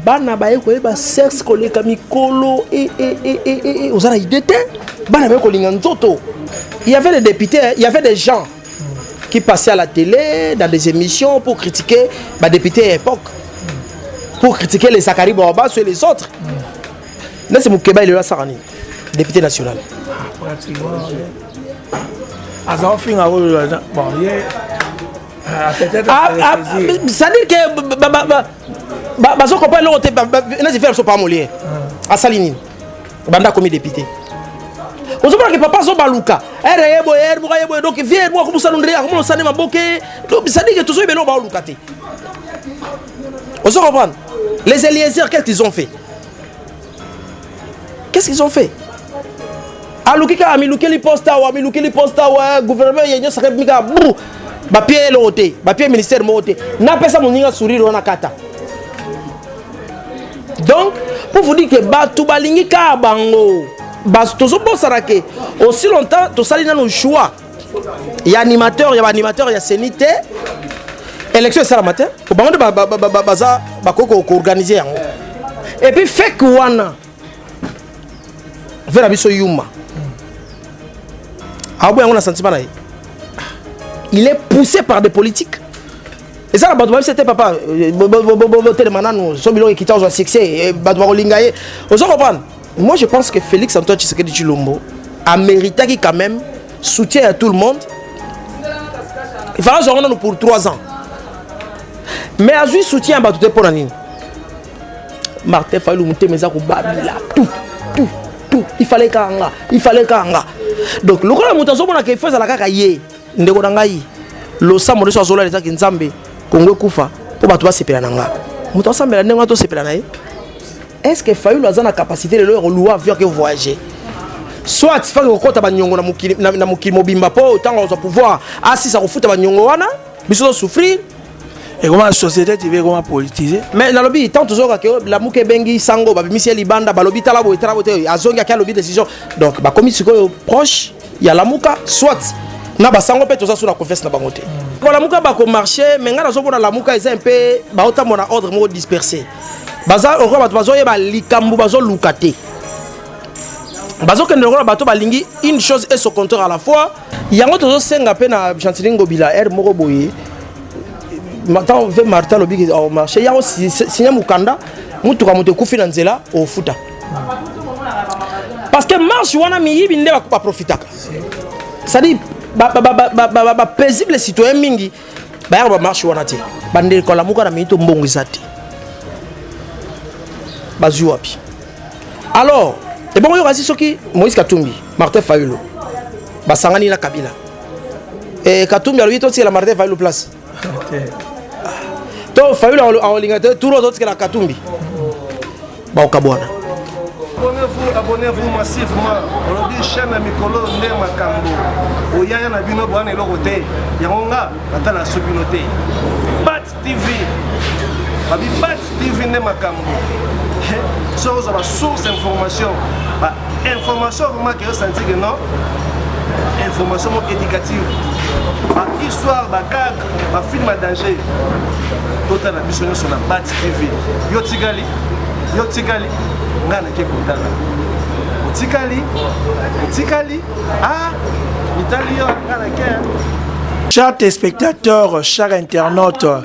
bana baye koyeba sexe koleka mikolo e, e, e, e, e, e. oza na idée te bana baye kolinga nzoto il y avait des députés il y avait des gens qui passaient à la télé dans des émissions pour critiquer ba députés à l'époque pour critiquer les Zachary Bawabasso et les autres nasi mokeba elelo asaka nini député national aza ofinga oyo bon ye Ah, ah, ah, c'est-à-dire que bazo comprendre eloko te neti fere biso pamoli ye asali nini banda akomi député ozomona ke papa azobaluka ere ye boye ere boka ye boye donc vie moko akomosana ndre akomona osane maboke sadike tozoyeba eloko baoluka te ozo comprendre les eliezer qu'est-ce qu'ils ont fait qu'est-ce qu'ils ont fait aluki kaka amilukeli poste awa amilukeli poste awa gouvernement ya union sacré mika bru bapie eloko te bapie ministère moko te napesa moninga sourire wana kata donc pour vous dire que bato balingi kaka bango tozobosana ke aussi longtemps tosali nano choix ya animateur ya baanimateur ya seni te élection esalama te po bango nde baza bakoki koorganize yango epuis fake wana ve na biso yuma aobo yango na sentiment na ye il est poussé par des politiques eza na bato babisa te papa botelema nanu so biloko ekita ozwa succès bato bakolinga ye ozo comprendre moi je pense que félix antoine tshisekedi tshilombo ameritaki quand même soutien ya tout le monde ifaka azwango nanu pour 3 ans mais azwi soutien ya bato te mpo na nini martin fayulu motema eza kobabila tout tout tout ifaleka nga ifaleka nga donc lokola moto azomona ke ifo ezala kaka ye ndeko na ngai losambo nyonso azolala ezaki nzambe kongo ekufa mpo bato basepela na nga moto asambela ndenge wana tosepela na ye est ce que fayulu aza na capacité lelo ya koluwa avion ake voyage soit faki kokɔta banyongo na mokili mobimba mpo ntango azwa pouvoir asisa kofuta banyongo wana biso tosouffrir ekoma société tv ekoma politise mais nalobi ntango tozoyoka ke lamuka ebengi sango babimisi ye libanda balobi tala boye tala boye te azongi ake alobi décision donc bakomi sikoyo proche ya lamuka soit na basango mpe toza so na confiance na bango te balamuka bakomarche me ngai nazomona lamuka eza mpe baotambo na ordre moko disperse baza lokola bato bazoyeba likambo bazoluka te bazokende lokola bato balingi une chose et se compteur à la fois yango tozosenga mpe na gentili ngobila r moko boye ntango mpe martin alobi ke marché yango signe mokanda motuka moto ekufi na nzela ofuta parce que marche wana miyibi nde baprofitaka cestadire bapaisible citoyen mingi bayaka bamarche wana te bandeko alamuka na mingi to mbongo eza te bazwi wapi alors ebongo yokasi soki moïse katumbi martin fayulo basangani na kabila e, katumbi alobi totikela martin fayulo place to fayulu akolinga te turu azotikela katumbi bakokabwana abonnez-vous abonnez-vous massivement olobi chaîne ya mikolo nde makambo oyaya na bino boyana eloko te yango nga natala so bino te bat tv babi bat tv nde makambo so ozwa basource information information vraiment que yo sentir que non information moko éducative bahistoire bakak bafilme ya danger totala biso nyonso na bat tv yo tikali yo tikali ngai nake kotala otikali otikali a ah, mitali yo ngai nake chers téléspectateurs, chers internautes,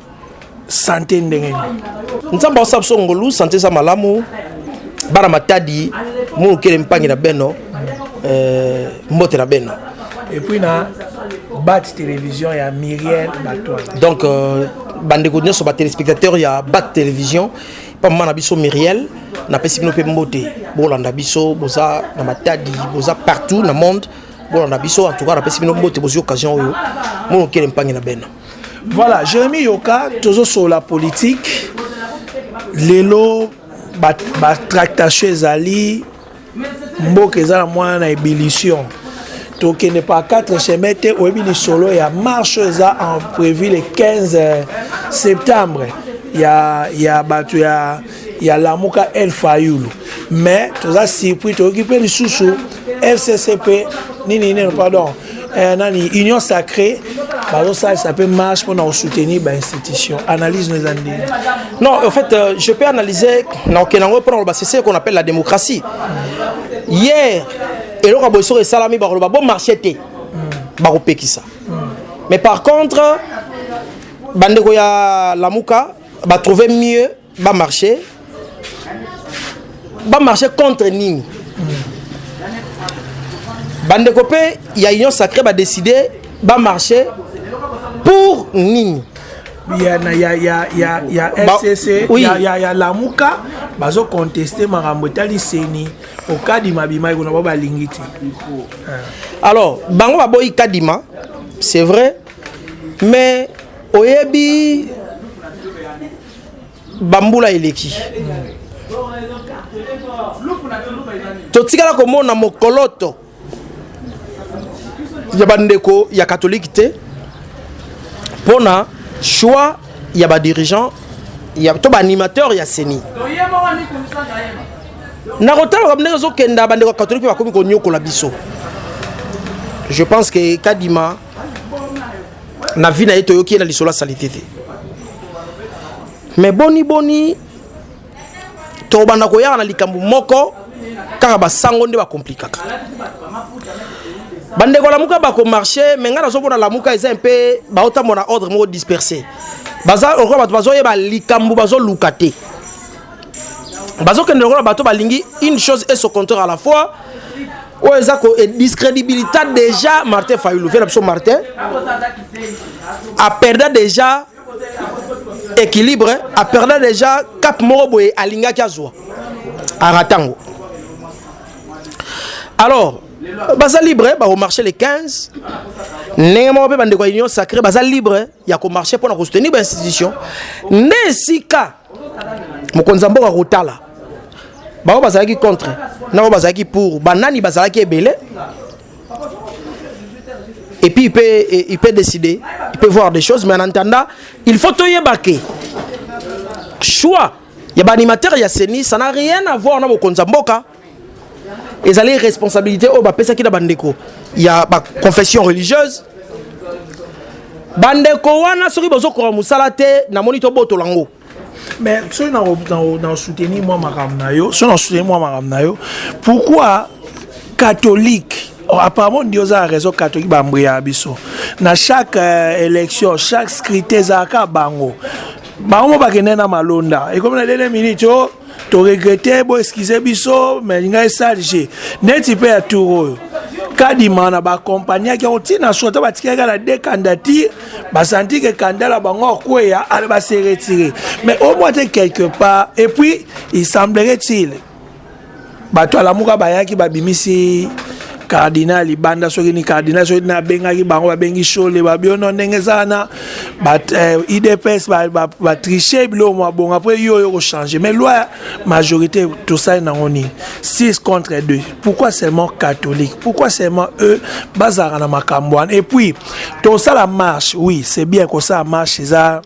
sante ndenge nini nzambe aosa biso ngolu sante eza malamu bana matadi molukele mpangi na beno eh, mbote na beno epuis na bat télévision ya miriel batoine donc euh, bandeko nyonso batelespectateur ya bat télévision mpa mama na biso miriel napesi bino mpe mbote bolanda biso boza na matadi boza partout na monde bolanda biso en tout cas napesi bino mbote bozwi occasion oyo molokele mpangi na beno Voilà, Jérémy Yoka, tozo sur la politique. Lelo, ba, ba tractation ezali, mboka ezala mwana na ébullition. tokende par 4 chemin te oyebi lisolo ya marche eza en prévu le 15 septembre ya, ya bato ya ya lamuka el fayulu mais toza surpris toyoki mpe lisusu fccp nini nini pardon eh, nani union sacrée bazosalisa mpe marche mpona kosoutenir bainstitution analyse no eza ndenge non en fait euh, je peux analyser naoke nango mpona koloba c'est ce qu'on appelle la démocratie hier eloko ya boye soko esalami bakoloba bo marché te bakopekisa mais par contre bandeko ya lamuka ba trouver mieux ba marcher ba marcher contre nini bandeko mpe ya union sacré badécide bamarche pour nini ya, ya, ya, ya, ya fcc oui. ya, ya, ya lamuka bazoconteste makambo etali seni po kadima abimaki kuna bao balingi te alors bango baboyi kadima c'est vrai mais Oyebi bambula eleki totikala komona mokoloto ya bandeko ya katolike te mpo na choix ya badirigeant ya to baanimateur ya seni na kotalaka ndenge ezokenda bandeko ya katolike mpe bakomi konyokola biso je pense que kadima na vie na ye toyoki ye na lisolo ya salite te mais boni boni tokobanda koyaka na likambo moko kaka basango nde bakomplikaka bandeko lamuka bakomarche me ngai nazomona lamuka eza mpe baotambo na ordre moko disperse baza lokola bato bazoyeba likambo bazoluka te bazokende lokola bato balingi une chose et son compteur à la fois oyo eza ko discrédibilité déjà martin fayulu vela biso martin aperda déjà équilibre aperda déjà cap moko boye alingaki azwa arata yango alors baza libre bakomarche le 15 ndenge moko mpe bandeko ya union sacré baza libre ya ko marcher pona ko soutenir ba institution nde sika mokonzi ya mboka kotala bango bazalaki contre na bango bazalaki pour banani bazalaki ebele et puis il peut, il peut décider il peut voir des choses mais en attendant il faut toyeba ke choix ya baanimateur ya seni ça n'a rien à voir na mokonzi ya mboka ezali responsabilité oyo bapesaki na bandeko ya baconfession religieuse bandeko wana soki bozokoka mosala te namoni tobotola yango mais soki nasoutenir mwa makambo na yo soki nasoutenir mwa makambo na yo pourquoi catholique oh, apparemment ndio oza na raison catholique bambuyaka biso na chaque euh, élection chaque scrute ezalaka bango bango mo bakende na malonda ekomi na dene minute o oh, to regrete bo excuse biso mais linga esalge neti mpe ya tour oyo kadima na baakompagnaki yango ntina so ata batikaki na de candidature basanti ke kandala bango akweya ale base retire mais au moins te quelque part et puis il semblerait-il bato ya lamuka bayaki babimisi cardinal libanda soki ni cardinal soki na abengaki bango babengi shole babiono ndenge eza wana eh, idps batriche biloko mwa bongo apres yo oyo kochange mais loi majorité tosali nango nini 6 contre 2 pourquoi seulement catholique pourquoi seulement eux bazalaka na makambo wana et puis tosala marche oui c'est bien kosala marche eza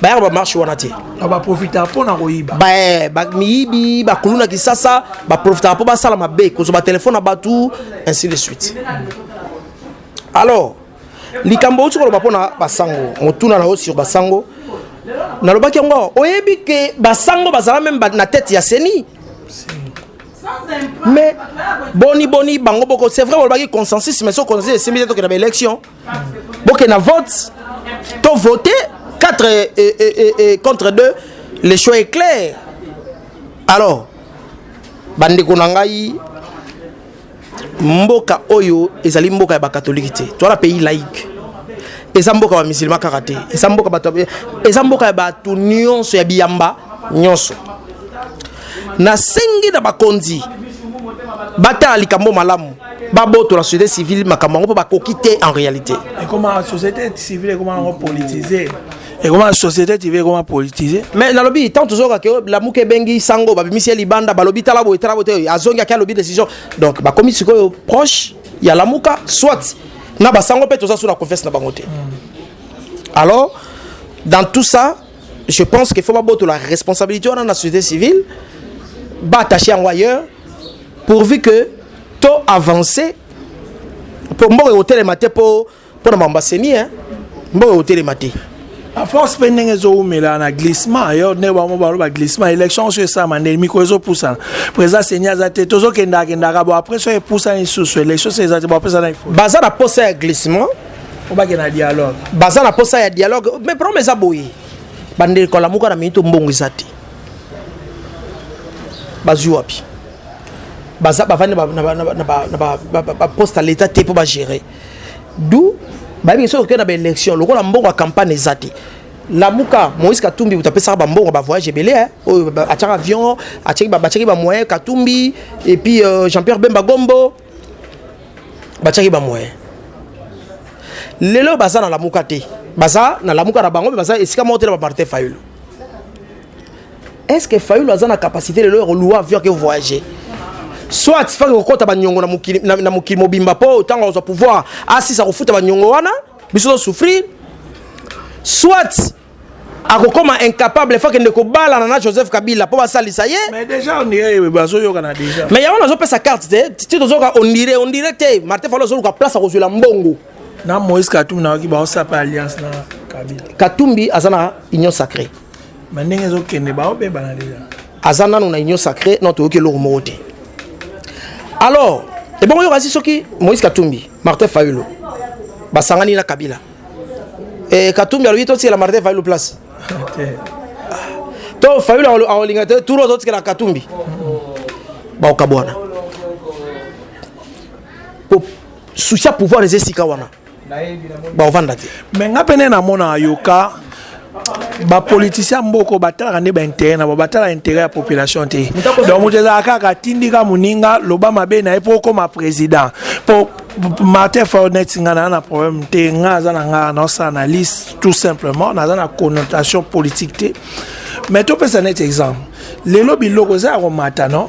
bayaka bamarche wana te baprofitaka mpo na koyiba miyibi bakulu na kisasa baprofitaka mpo basala mabe kozwa batelefone na bato ainsi de suite alors likambo outi koloba mpo na basango motuna na yo sur basango nalobaki yango oyebi ke basango bazala meme na tete ya seni mais boni boni bango boko c'est vrai bolobaki consensus mais so consensus esimbi te tokenda baélection bokenda vote to vote 4 et, et, et, et contre 2 le choix est clair alors bandeko na ngai mboka oyo ezali mboka ya bakatolike te to na pays laïque eza mboka ya musulman kaka te eza mboka bato eza mboka ya bato nyonso ya biyamba nyonso nasengi na bakonzi batala likambo malamu babotola société civile makambo yango mpo bakoki te en réalité ekoma société civile ekoma yango politise ekoma société civile ekoma politise mais nalobi tant tozoyoka ke lamuka ebengi sango babimisi ye libanda balobi tala boye tala boye te azongi ake alobi décision donc bakomi sikoyo proche ya lamuka soit na basango mpe toza so na confiance na bango te hmm. alors dans tout ça je pense qu'il faut la responsabilité dans la société civile batache en ailleurs pourvu que to avancer pour mboka ekotelema te mpo mpona makambo aseni hein. mboka ekotelema te a force mpe ndenge ezowumela na glissement yo nde bango baloba glissement élection oso esalama nde mikro ezopusana président seni aza te tozokendakendaka bo après so epusani lisusu élection se eza te bopesana baza na posa ya glissement obake na dialogue baza na posa ya dialogue mais problème eza boye bandeko alamuka na minito mbongo eza te bazwi wapi baza bavandi na poste ya leta te mpo bagere du bayebi soki okei na baélection lokola mbongo ya campagne eza te lamuka moïse katumbi moto apesaka bambongo bavoyage ebele eh. oyo atiaka avion atiaki bamoyen katumbi epuis euh, jean pierre bemba gombo batiaki ba moyen lelo baza na lamuka te baza na lamuka na bango mpe baza esika moko te na bamartin fayulu est ce que fayulu aza na capacité lelo ya kolua avion ake voyage soit faki kokɔta baniongo na mokili, na, na mokili mobimba mpo ntango azwa pouvoir asisa kofuta baniongo wana biso tozosouffrir soit akokoma incapable fo akende kobalana na joseph kabila mpo basalisa ye mais déjà ondire bazoyokana déjà mais yango nazopesa carte te ti tozoyoka ondire ondire te martin falo azoluka place akozwela mbongo na moïse katumbi nayoki baosapa alliance na kabila katumbi aza na union sacré ma ndenge ezokende baobebana deja aza nano na union sacré no toyoki eloko moko te alors ebongo yoka si soki moïse katumbi martin fayulo basangani na kabila eh, katumbi alobi totikela martin fayulu place to fayulu akolinga te turo totikela katumbi bakokabwana po susi ya pouvoir eza esika wana bakovanda te me nga pene namonaka yoka ba politiciens mboko batalaka nde baintérêt na bango batala intérêt ya population te donc moto ezala kaka atindika moninga loba mabe na ye mpo okoma président mpo martin fornet nga naza na problème te nga aza na nga naosala na liste tout simplement naza na connotation politique te mais topesa neti exemple lelo biloko eza ya komata non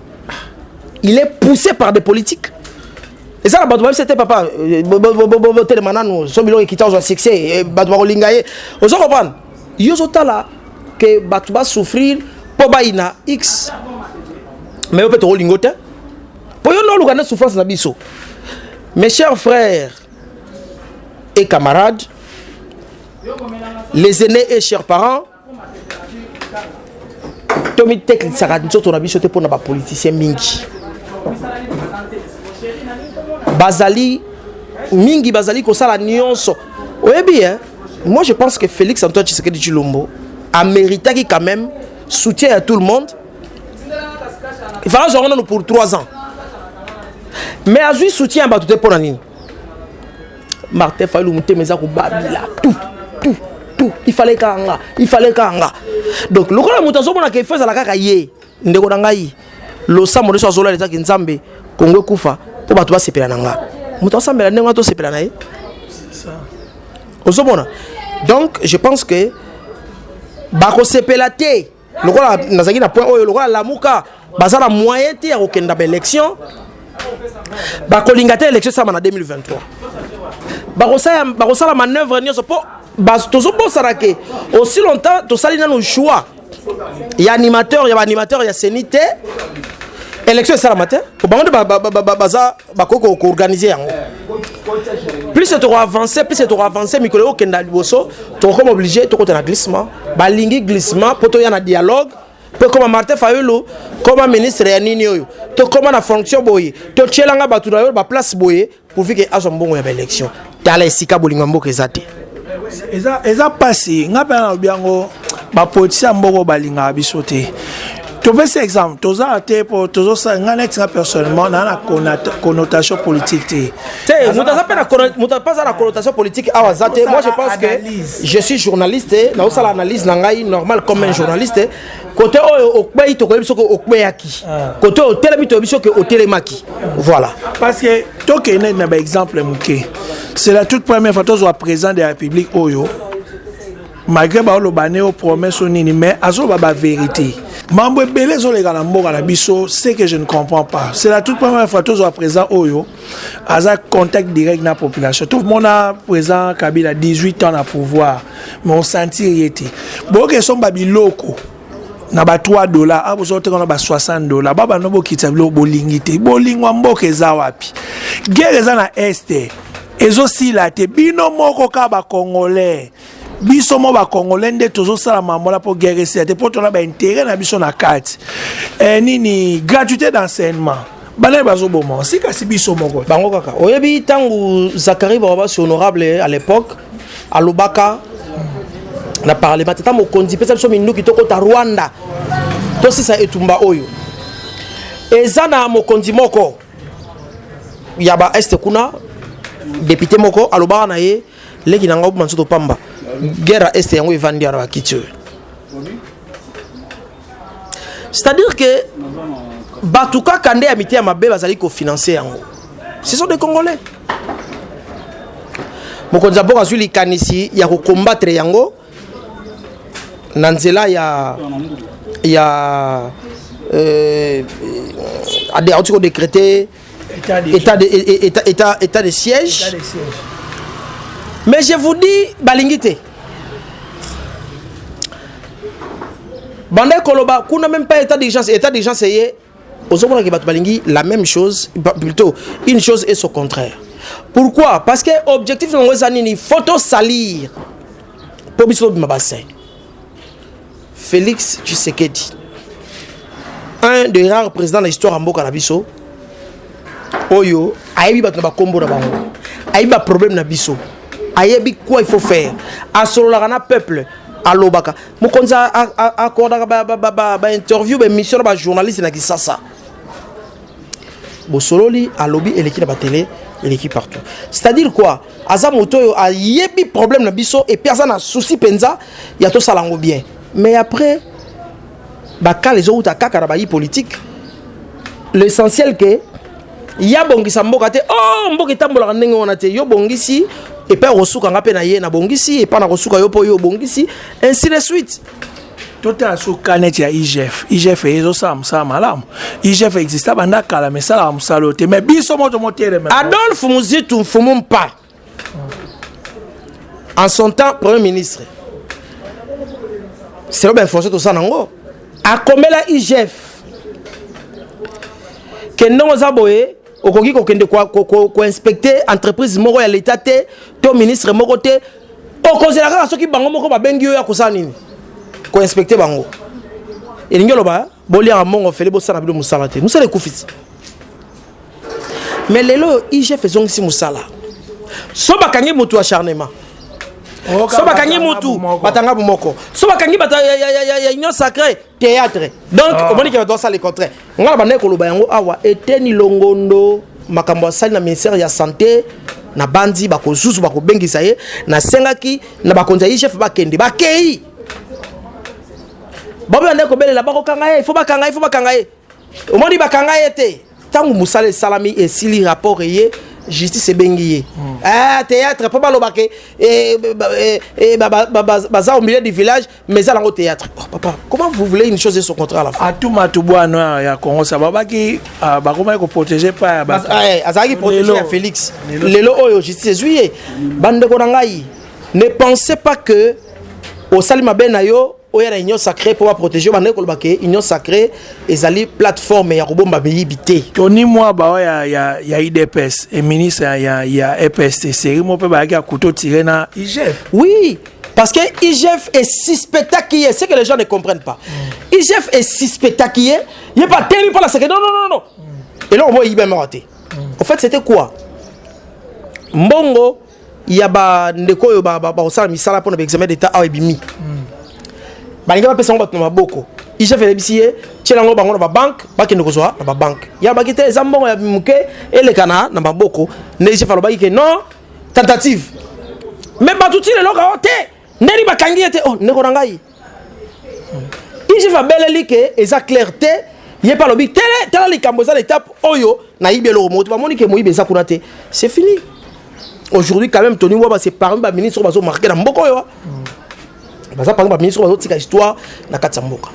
il est poussé par des politiques eza na bato babisa te papa euh, botelema nanu so biloko ekita ozwa succès euh, bato bakolinga ye ozo comprendre yo ozotala ke bato basouffrir mpo bayina x mais yo mpe tokolingo te mpo yo nde oluka nde souffrance na biso mes chers frères et camarades les aînés et chers parents tomitekisaka nzoto na biso te mpo na bapolitisien mingi bazali mingi bazali kosala nyonso oyebi eh? moi je pense que félix antoine tshisekedi tshilombo améritaki quand même soutien ya tout le monde ifala azwango nano pour 3 ans mais azwi soutien ya bato te mpo na nini Martin Fayulu mutema eza kobabila tout tout tout il fallait kanga il fallait kanga donc lokola moto azomona ke fo ezala kaka ye ndeko na ngai losambo nyonso azolala ezaki nzambe kongo ekufa mpo bato basepela na nga moto asambela ndenge wana tosepela na ye ozomona donc je pense que bakosepela te lokola nazalaki na point oyo lokola lamuka baza na moyen te ya kokenda baélection bakolinga te élection esama na 2023 bakosala manœuvre nyonso mpo tozobosana ke aussi longtemps tosali nano choix ya animateur ya baanimateur ya seni te élection esalama te bango nde baza bakoki koorganize yango plus tokoavance plus tokoavance mikolo ekokenda liboso tokokoma oblige tokota na glissement balingi glissement mpo toya na dialogue mpo ekoma martin fayulu koma ministre ya nini oyo tokoma na fonction boye totyelanga bato na yo baplace boye pourvike azwa mbongo ya baélection tala esika bolingo ya mboka eza te eza, eza pasi ngai mpe nalobi yango bapolitisi ya mboko balingaka biso te topesi exemple tozala te mpo tozosala ngai neti nga personnellement naa na connotation politique te te moto aza mpe moto mpe aza na connotation politique awa aza te moi je pense que je suis journaliste nazosala analyse na ngai normal comme un journaliste kote oyo okweyi tokoyebi soki okweyaki ah. kote oyo otelemi toyebi soki otelemaki voilà parce que tokende na baexemple moke c'est la toute première fois tozwa président de la république oyo malgré baoloba ne o promesse o nini mais azoloba bavérité mambo ebele ezoleka na mboka na biso ce que je ne comprends pas c'est la toute première fois tozwa président oyo aza contact direct na population tomona président kabila 18 ans na pouvoir mais osentir ye te boyoka esomba biloko na ba 3 dollars a bozo teka na ba 60 dollars ba bando bokitisa biloko bolingi te bolingwa mboka eza wapi guerre eza na este ezosila te bino moko kaka bakongolais biso mo bacongolais nde tozosala mamola mpo guerre esila te mpo tona baintere na biso na kati eh, nini gratuité d'enseignement banani bazoboma si kasi biso moko bango kaka oyebi ntango zakari barabasi honorable à l'époque alobaka na parlement tata mokonzi mpesa biso minduki tokota rwanda tosisa etumba oyo eza na mokonzi moko ya baeste kuna depute moko alobaka na ye leki na ngai obima nzoto pamba guerre ya este yango evandi wana bakiti oyo c'est-à-dire que bato kaka nde ya mite ya mabe bazali kofinanse yango ce sont des congolais mokonzi ya mboka azwi likanisi ya kokombatre yango na nzela ya ya euh, auti kodecrete état de, état de, état, état, état de siège. État de siège. Mais je vous dis, balingi te. banda koloba kuna même pas état d'urgence état d'urgence eye ozomonaki bato balingi la même chose plutôt une chose et son contraire pourquoi parce que objectif nango eza nini faut tosalir mpo biso tobima basai Felix Tshisekedi un des rares présidents na histoire ya mboka na biso oyo ayebi bato na bakombo na bango ayebi baproblème na biso ayebi quoi il faut faire asololaka na peuple alobaka mokonzi akordaka bainterview baémission na bajournaliste na kisasa bosololi alobi eleki na batele eleki partout c'est-à-dire quoi aza moto oyo ayebi problème na biso epuis aza na souci mpenza ya tosala yango bien mais après bakala ezowuta kaka na bayi politique l'essentiel ke ya bongisa mboka te o oh, mboka etambolaka ndenge wana te yo bongisi epai okosuka nga mpe na ye nabongisi epai nakosuka yo mpo yo obongisi ainsi de suite totala so kanet ya igf igf ezosala mosala malamu igf exista banda kala ma esalaka mosala oyo te mai biso moto moteleme adolphe muzitu mfumu mpa en son temps premier ministre selo bainformation toza nango akomela igf ke ndenge oza boye okoki kokende koinspecte entreprise moko ya leta te to ministre moko te okozela kaka soki bango moko babengi yo ya kosala nini koinspecte bango elingi oloba boliaka mongo fele bosala bino mosala te mosala ekufisi mais lelo oyo igf ezongisi mosala so bakangi motu ya charnement so bakangi mutu batanga bomoko so bakangi bato ya union sacré théâtre donc ah. omoni ke bato basala le contraire ngai na bandaki koloba yango awa eteni longondo makambo asali na ministère ya sante na banzi bakozuzu bakobengisa ye nasengaki na bakonzi ya igf bakende bakei baboya nde kobelela bakokanga ye ifo bakanga ye ifo bakanga ye omoni bakanga ye te ntango mosala esalami esili rapport eye justice ebengi ye hmm. ah, théâtre mpo baloba ke eh, eh, eh, baza au milieu du village mais ezala yango théâtre oh, papa comment vous voulez une chose et son contraire à la fin atuma tubwana ya congo sa babaki ah, bakomaki koprotege pa ya bato ah, eh, azalaki protege ya félix lelo oyo justice ezwi ye bandeko na ngai ne pensez pas que osali mabe na yo oya na union sacrée mpo baprotege yo bandaki koloba ke union sacrée ezali plateforme ya kobomba miyibi te tony mwaba oyo ya, ya, ya idps e ministre ya, ya, ya epst seri mo mpe bayaki ya kuto tire na igf oui Parce que IGF est suspectaki ye, c'est que les gens ne comprennent pas. Mm. IGF est suspectaki ye, ye pas temi pas la secret. Non non non non. Mm. Et là on voit IBM raté. Mm. En fait, c'était quoi Mbongo ya ba ndeko yo ba ba osala misala pona ba examen d'état a ebimi. Mm. Ba linga ba pesa ngo ba tuma boko. IGF elebisi ye, tiela ngo bango na ba banque, ba kende kozwa na ba banque. Ya ba kite eza mbongo ya muke elekana na maboko. Ne IGF alobaki que non, tentative me bato ti lelo kao te ndeni bakangi ye te o oh, ndeko na ngai igf abeleli ke eza claire te ye mpe alobi tele tala likambo eza na etape oyo nayibi eloko moto bamoni ke moyibi eza kuna te c'est fini aujourd'hui quand même tony waba c'est parmi baministre oyo bazomarke na mboka oyo baza pano ba ministre bazotika histoire na kati ya mboka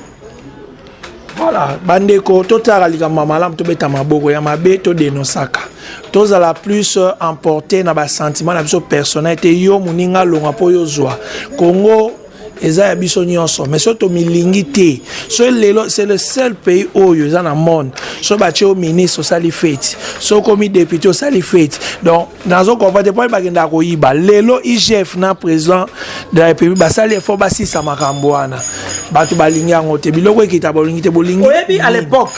voilà bandeko totalaka likambo ya malamu tobeta maboko ya mabe todenosaka tozala plus euh, emporte na basentiment na biso personnel te yo moninga alonga mpo yo ozwa congo eza ya biso nyonso mais soki tomilingi te soki lelo c'est le seul pays oyo eza na monde soki batye yo ministre osali feti soki okomi député osali feti donc nazo comprendre mpo bakendaka koyiba lelo igf na président de la république basali efort basisa makambo wana bato balingi yango te biloko ekita bolingi te bolingi oyebi à l'époque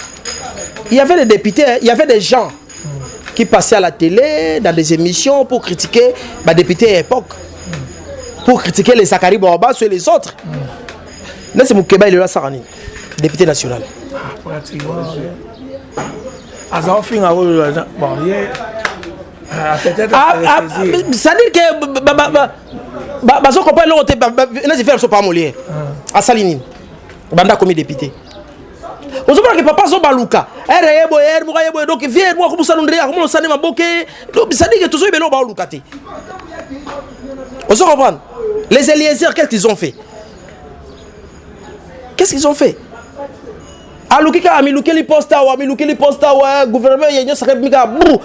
il y avait des députés il y avait des gens qui passaient à la télé dans des émissions pour critiquer badéputés à l'époque pour critiquer les Zachary Bawabasso et les autres nasi mokeba elelo asaka nini député national aza ofinga oyo bon ye c'est-à-dire que bazo comprendre eloko te nasi fere so pamolier asali nini banda akomi député ozomona ke papa azobaluka ere ye boye ere moko ye boye donc vie moko akomusala ndre akomona osani maboke sadike tozoyebela oyo baoluka te ozo comprendre les eliezer qu'est-ce qu'ils ont fait Qu'est-ce qu'ils ont fait aluki kaka milukeli poste awa milukeli poste awa gouvernement ya nyonso akebi kaka bru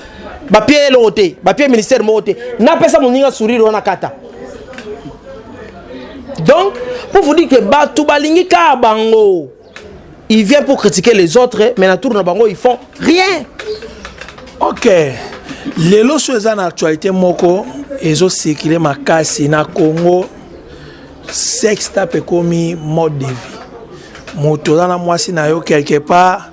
bapie eloko te bapie ministère moko te napesa moninga sourire wana kata donc pour vous dire que bato balingi kaka bango il vient pour critiquer les autres mais na tour na bango ils font rien ok lelo so eza na actualité moko ezosikile makasi na congo sex tape ekomi mode de vie moto oza na mwasi na yo quelque part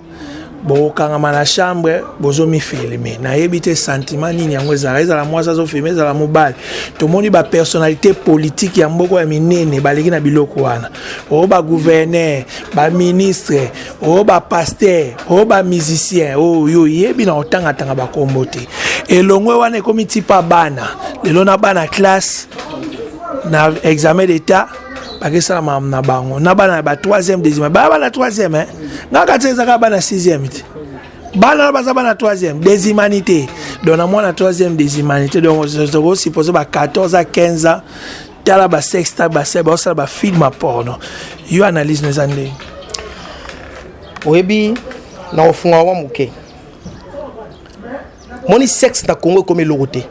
bokangama na chambre bozomifilme nayebi te sentiment nini yango ezalaka ezala mwasi azofilme ezala mobali tomoni bapersonnalité politike ya mboko ya minene baleki na biloko wana o oh, baguverner baministre o oh, bapaster o oh, bamusicien oyo oyebi na kotangatanga bakombo te elongwe wana ekomi tipa bana lelo na bana classe na examen d'etat bakesala makambo na bango na bana ya ba 3e deuxième baya bana 3e eh? nga kati ezaka bana 6e te bana oyo baza bana 3e des humanités donc na mwana 3e des humanités donc tokosuppose ba 14 a 15 ans tala basexta base baosala bafilme ya porno yo analyse no eza ndenge oyebi na kofunga yango moke moni sexe na congo ekomi eloko te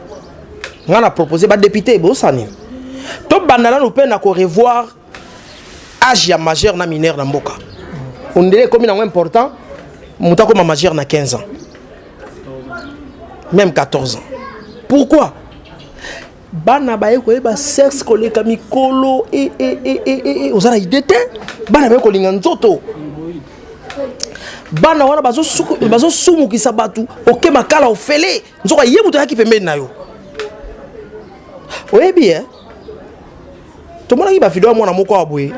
ngai na propose badepute ebosani tobanda nanu mpe na korevoir age ya majeur na mineur na mboka ondele ekomi nango important moto akoma majeur na 15 ans même 14 ans pourquoi bana baye koyeba sexe koleka mikolo e, e, e, e, e, e. oza na ide te bana baye kolinga nzoto bana wana bazosumukisa bazo bato oke makala ofele nzoka ye moto ayaki pembeni na yo oyebi e tomonaki bavideo ya mwana moko ya boye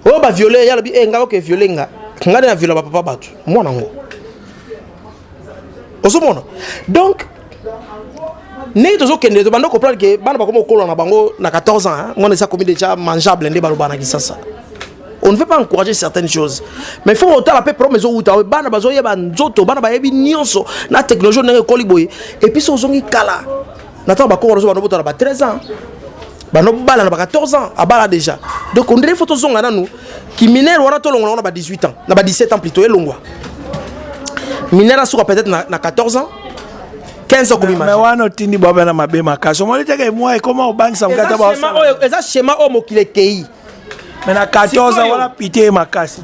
oyo ba viole ya lobi eh nga oke viole nga nga na viola ba papa batu mwana ngo ozomona donc ndenge tozokende tobanda comprendre ke bana bakoma kokola na bango na 14 ans ngwana esi akomi déjà mangeable nde baloba na kisasa on ne veut pas encourager certaines choses mais il faut otala mpe problème ezowuta bana bazoyeba nzoto bana bayebi nyonso na technologie ndenge ekoli boye epuis ozongi kala na ntango bakoko nazo banobota na ba 13 ans banobala na ba 14 ans abala déjà donc ondire fo tozonga nanu kiminere wana tolongola yango na ba 18 ans na ba 17 ans plutôt elongwa minere asuka peut-être na, na 14 ans 15 ans kobima mais wana otindi bwabe na mabe makasi omoni teke mwa ekoma obangisa mokata ba eza schéma oyo mokili ekei mais na 14 ans wana pite ye makasi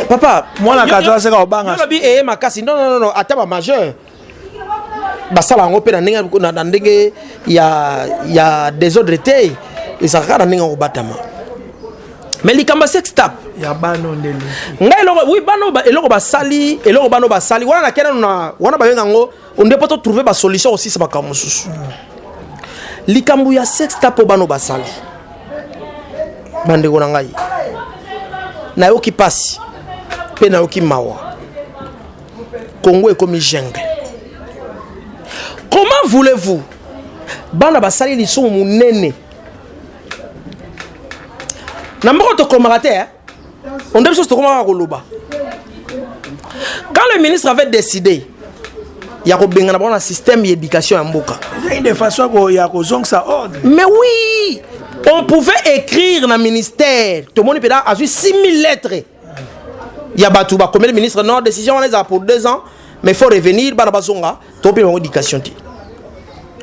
papa mwana 14 ans seka obanga eye makasi non non non ata ba majeur basala yango mpe na ndenge ya desordre te ezalaka na ndenge ya kobatama mais likambo ya sex tap ya bana nde ngai eloko oui bana eloko basali eloko bana basali wana na kena na wana babenga yango onde mpo totrouve basolution kosisa makambo mosusu likambo ya sex tap mpo bana basali bandeko na ngai nayoki mpasi mpe nayoki mawa Congo ekomi jungle. Comment voulez-vous bana basali lisumu munene na mboka tokomaka te onde biso tokomaka koloba quand le ministre avait décidé ya kobengana bango na système ya éducation ya mboka de façon ya kozongisa ordre mais oui on pouvait écrire na ministère tomoni mpena azwi 6000 lettres ya bato bakomeli ministre non décision wana ezala pour deux ans mais faut revenir bana bazonga tope bango éducation te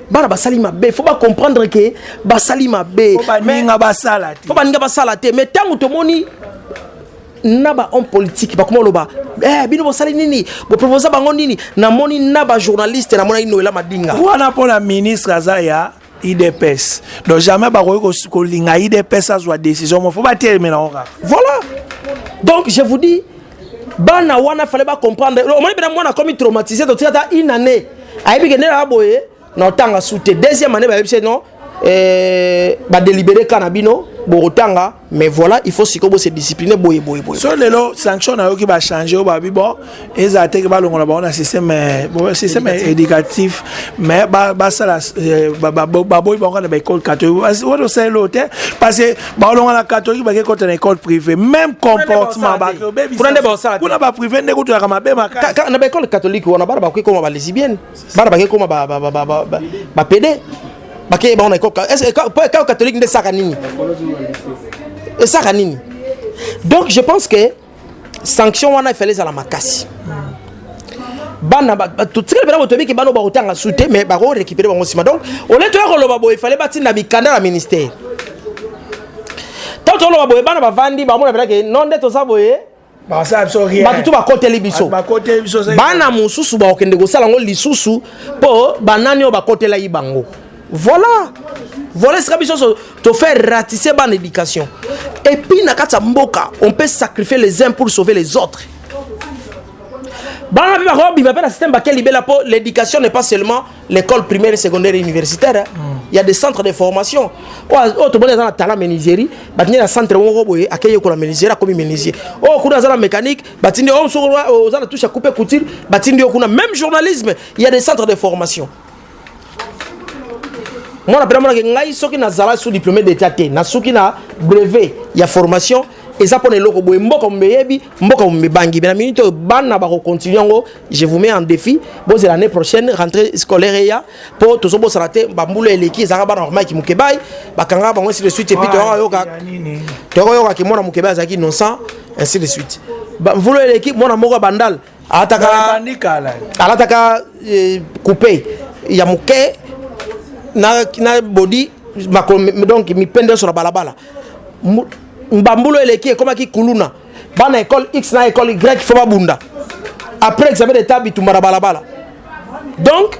bana basali mabe faut bacomprendre ke basali mabe po baninga basala te po baninga basala te mais ntango tomoni na bahomme politique bakoma oloba eh, bino bosali nini boproposa bango nini namoni na bajournaliste namonaki noela madinga wana mpona ministre aza ya idps donc jamais bakoki kolinga idps azwa décision mo fo batelemela ngo kaka voilà donc je vous dis bana wana fale bacomprendre omoni mpena mwana akomi traumatise totika ata une année ayebi kende na boye na otanga su te deuxième année bayebisi non eh, badélibere ka na bino bokotanga mais voilà il faut sikoyo bose discipline boye boye boye so lelo sanction nayoki bachange oyo babi bon ezala teke balongola bango na système euh, système éducatif mais basala euh, baboyi bango na baécole catholique wana osaleli oyo te parce que baolonga na catholique bake kota na école privé même comportement bakobebisakuna baprivé nde kutuyaka mabe makasi na baécole catholique wana bana bakoki koma balesibienne bana bake koma bapede bakeye bango na ekao catholique nde esaka nini esaka nini donc je pense que sanction wana efale ezala makasi bana totikali mpena boto ebiki bana bakotanga su te mais bakorekipere bango nsima donc ole toya koloba boye efale batinda mikanda na ministère ntango toloba boye bana bavandi bamona mpena ke non nde toza boye bato to bakoteli biso bana mosusu bakokende kosala yango lisusu mpo banani oyo bakotelaki bango voilà voilà esika biso nyonso tofaire ratisse bana éducation epuis na kati ya mboka on peut sacrifier les uns pour sauver les autres bana mpe bakobima mpe na système bake libela mpo l'éducation n'est pas seulement l'école primaire et secondaire et universitaire mm. il y a des centres de formation oyo tomoni aza na tala menuiserie batindi na centre moko boye akei yekola menuiserie akomi menuisier oyo oh, kuna aza na mécanique batindi oyo oh, soki oh, oza na touche ya coupe couture batindi yo kuna même journalisme il y a des centres de formation mwana mpe namonaki ngai soki nazala sous diplômé d'état te nasuki na brevet ya formation eza pona eloko boye mboka mumbe yebi mboka mumbe bangi mais na minute oyo bana bako continuer yango je vous mets en défi bozela année prochaine rentrée scolaire eya po tozo bosana te ba mbula eleki ezaka bana ba Mike Mukebai bakanga bango ainsi de suite et puis to yoka to yoka ki mwana Mukebai azaki innocent ainsi de suite ba mbula eleki mwana moko bandal alataka alataka eh, coupe ya moke na, na bodi makolo donc mipende nyonso na balabala mbambulu eleki ekomaki kuluna bana école x na école y fo babunda après examen d'état bitumba na balabala donc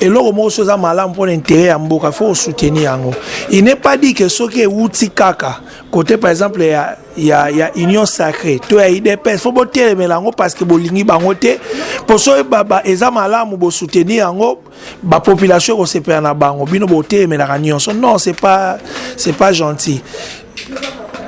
eloko moko soki eza malamu mpo na intere ya mboka fo osoutenir yango il n'est pas dit ke soki ewuti kaka kote par exemple ya, ya, ya union sacré to ya idps fo botelemela yango parce que bolingi bango te mpo soki baba eza malamu bosoutenir yango bapopulation ekosepela na bango bino botelemelaka nyonso non c'est pas, c'est pas gentil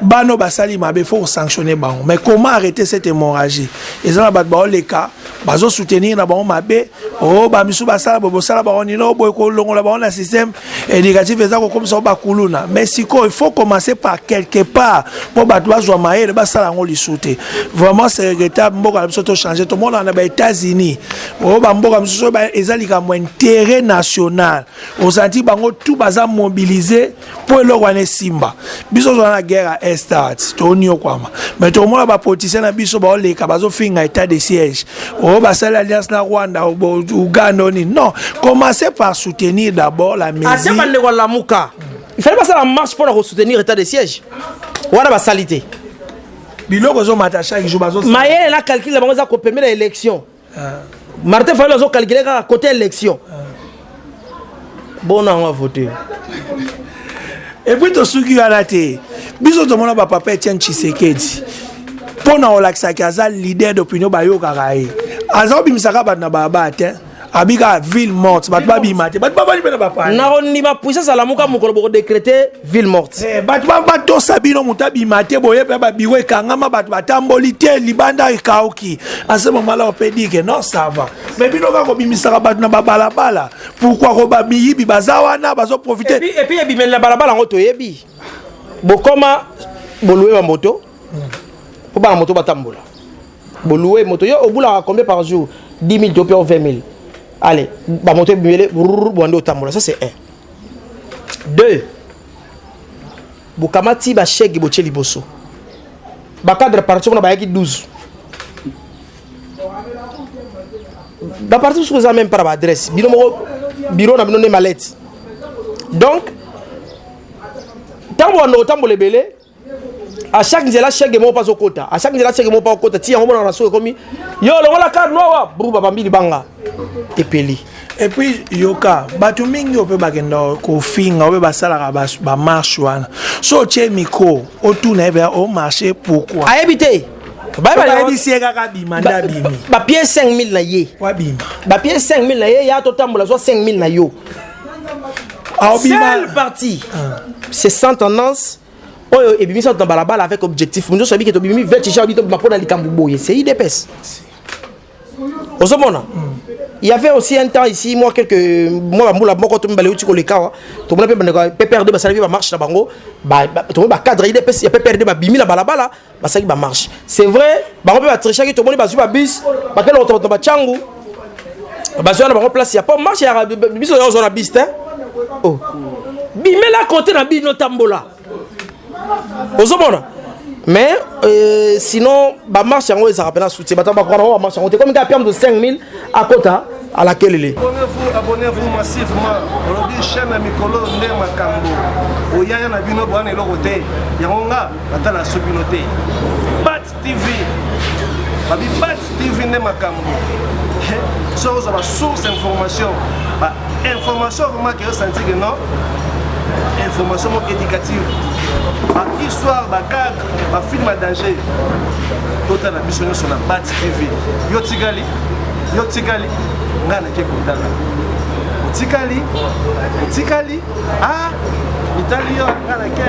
bano basali mabe faut sanctionner bango mais comment arrêter cette hémorragie eza na bato baoleka bazosoutenir na bango mabe o oh, bamisu basala boye bosala bango nini o oh, boye kolongola bango na système éducatif eza kokomisa bango bakuluna mais sikoyo il faut commencer par quelque part mpo bato bazwa mayele basala yango lisu te vraiment c'est regrettable mboka na biso tochange tomonaka na ba-états-unis o oh, bamboka mosusu eza likambo intérêt national osanti bango tout baza mobilise mpo eloko wana esimba biso tozala na guerre ya estat toniokwama mais tomona bapoliticien na biso baoleka bazofinga état de siège oyo oh, basali alliance na rwanda uganda oni non commence par soutenir d'abord la mesure bandeko alamuka ifali basala marche mpo na kosoutenir état de siège wana basali te biloko ezomata chaque jour bazo mayele na calcul na bango eza kopemela élection Martin Fayulu azo calculer kaka côté élection. Bon on va voter. Et puis to suki wana te. Biso to mona ba papa Etienne Tshisekedi. Pona olakisa ki aza leader d'opinion bayokaka ye. Aza obimisaka bato na baba te. abika ville morte bato babima te bato babali mpe na bapaya nakondima puissance alamuka mokolo bokodecrete ville morte eh, bato batosa bino moto abima te boye mpe babiro ekangama bato batamboli te libanda ekauki asema malao mpe dike non sava me bino kaka kobimisaka bato na babalabala pourkui koba miyibi baza wana bazoprofite epuis ebimeli na balabala yango toyebi bokoma bolue ba moto mpo bana moto batambola bolue moto yo obulaka combien par jour 10 000 to mpe 20 000 allez bamoto ebimele bwande otambola ça c'est un Deux, bokamati ba chèque botie liboso. Ba cadre parti kuna bayaki 12. Ba parti mosusu eza même par ba adresse. Bino moko bureau na bino nde malette. Donc ntango banda kotambola ebele à chaque nzela chèque moko mpe azokota à chaque nzela chèque moko mpe akokota ti yango monaka na soki ekomi yo longola kar nowa bru babambi libanga epeli epuis yoka bato mingi oyo mpe bakenda kofinga oyo basalaka bamarshe wana so otye mikro otuna ye mpenza omarche pourkui ayebi te bayebisi ye kaka bima nde abimi bapie 5000 na ye wabima bapie 5000 na ye ya totambola zwa 5000 na yo seule partie ah. c'est sans tendance oyo ebimisa bato na balabala avec objectif mosusu abiki tobimi vete ja bito bima mpo na likambo boye c'est idps ozomona il y avait aussi un temps ici moi quelques moi bambula moko to mibale uti kolekawa tomona mpe bandeko pprd basalaki bamarche na bango tomoni bacadre idps ya pprd babimi na balabala ba, basalaki bamarche c'est vrai bango mpe batrichaki tomoni bazwi babis bakenda kotobatona bacangu bazwi wana bango place ya po marche ya biso ozwa na bis te oh. bimela kote na bino tambola ozomona mais euh, sinon bamarche yango ezalaka mpena soutien bato bakoka na bango bamarche yango te komi kaka piamdo 5000 akota à la kelele abonnez-vous abonnez-vous massivement olobi chaîne ya mikolo nde makambo oyaya na bino boyana eloko te yango nga natala so bino te bat tv babi bat tv nde makambo soki ozwa basource information ba information vraiment ke osanti ke non information moko éducative ba histoire ba cadre ba film ya danger totala biso nyonso na bat tv yo tikali yo tikali ngai nake kotala otikali otikali a ah, mitali yo ngai nake